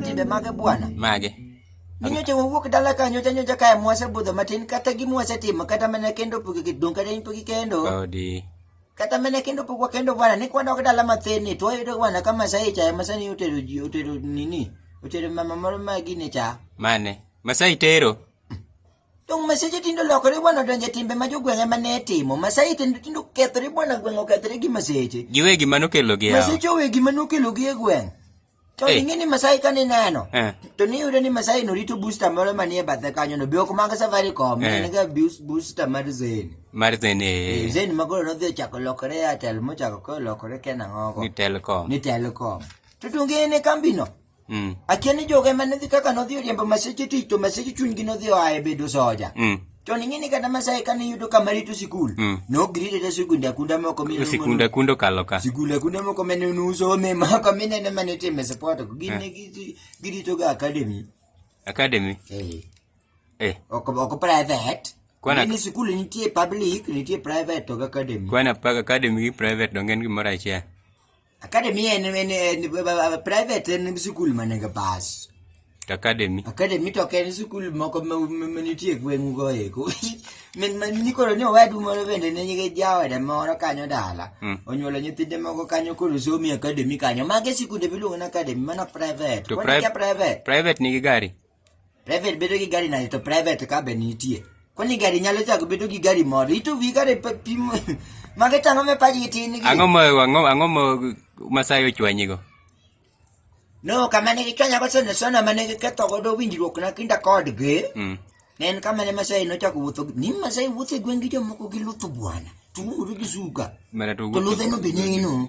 timbe mage bwana? Mage. Ninyocha wawuok dala ka nyocha nyocha kae mwase budho matin kata gi mwase timo kata mana kendo pugi gi dong kata pugi kendo. Odi. Kata mana kendo pugwa kendo bwana ni kwanda dala mathin ni to yudo bwana kama sai cha masani utero utero nini? Utero mama moro magi ne cha. Mane? Masai tero. Dong maseche tindo lokore bwana donje timbe ma jogweng' ema ne timo. Masai tindo tindo kethore bwana gweng' okethore gi maseche. Giwe gima nokelo gi yawa. Maseche owe gima nokelo gi e gweng'. To hey. Eh. ing'e ni Masai ka nineno. Uh. Eh. To niyudo ni Masai no rito booster moro manie bathe kanyo no. Be ok mag Safaricom. Uh. Eh. Nega booster mar Zen. Mar Zen eh. Zen ma koro nodhi ochako lokore Airtel mochako kolokore Kenang'ogo. Ni Telcom. Ni Telcom. To tungene kambino. Mm. Akia ni joge mane dhi kaka nodhi oriembo maseche tich to maseche chunygi nodhi oa e bedo soja. Mm. To ning'e ni kata Masai kane yudo kama rito sikul, mm. nogirite ta sikunde akunda moko mine sikunde akunda kalo ka. Sikunde akunda moko mine nuso me moko mine ne mane time support ko gine eh. girito ga academy. Academy. Eh. Eh. Oko oko private. Kwana ni sikul nitie public, nitie private to academy. Kwana pa academy gi private dongen gimoro achiel. Academy en, en, en, en private en sikul mane ga pass. Academy. Academy to ok en sikul moko ma ma- ma nitie gweng'u go eko. Min ma nikoro ni owadu moro bende ne nyige jawada moro kanyo dala. Mm. Onyuolo nyithinde moko kanyo koro somi academy kanyo. Mage sikunde miluongo ni academy mano private. To Wan pri- kia private. Private nigi gari. Private bedo gi gari nade to private ka be nitie. Kwani gari nyalo chako bedo gi gari moro. Ito wi gari pa- pimo. Mage tang'o me pajgi tin gi. Ang'o ma ang'o ang'o ma Masai ochwanyigo? No, kama ne gichwanya go sene sona ma ne giketho godo winjruok na kinda kodgi. Mm. Ne en kama ne Masai nochako wuotho. gi- Ni Masai wuotho e gweng' gi jomoko gi lutho bwana. Tung'uru gi suka. Mana to To ludhe no be neno.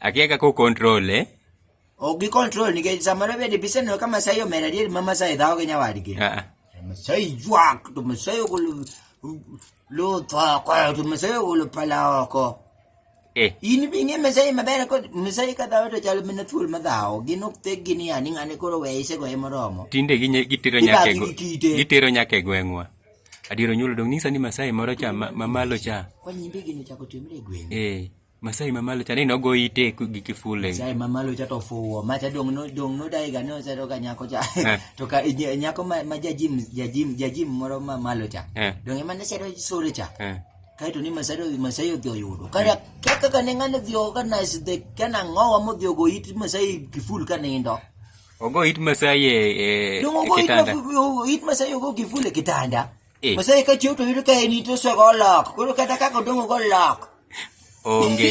Akia kaka o control eh? Ok gi control nikech samoro bende biseneno ka Masai omera adier ma Masai dhawo gi nyawadgi. Ah, ah. Masai ywak to Masai ogolo luth oko to Masai ogolo pala oko. Eh. In bi ing'e Masai maber kod Masai ka dhawo to chalo mana thuol ma dhawo. Gin ok thek gini ya ni ng'ani koro weye isegoye moromo. Tinde ginye- gitero nyaka e Ibagi gwe- gi kite. gitero nyaka e gweng'wa. Adier onyuolo dong' nyisa ni Masai moro cha ma- mamalo cha. Kwa nyimbi gini ochako timre e gweng'. Eh. Masai mamalo cha ni nogo ite gi kifule. Masai mamalo cha to fuwo. Ma cha dong no dong no dai ga no cha to ka nyako cha. Eh. To ka nyako ma ma jajim jajim jajim moro ma malo cha. Eh. Dong ema ne cha to sore cha. Eh. Kai to ni Masai Masai odhi oyudo. Kaya kaka ka ne ngane odhi organize the kana ngowa mo odhi ogo it Masai kiful ka nindo. Ogo it Masai e e kitanda. Dong ogo it Masai ogo kiful e kitanda. Eh. Osai ka chiw to yudo ka en ito swago olok. Koro kata kaka odong'o go olok. Onge.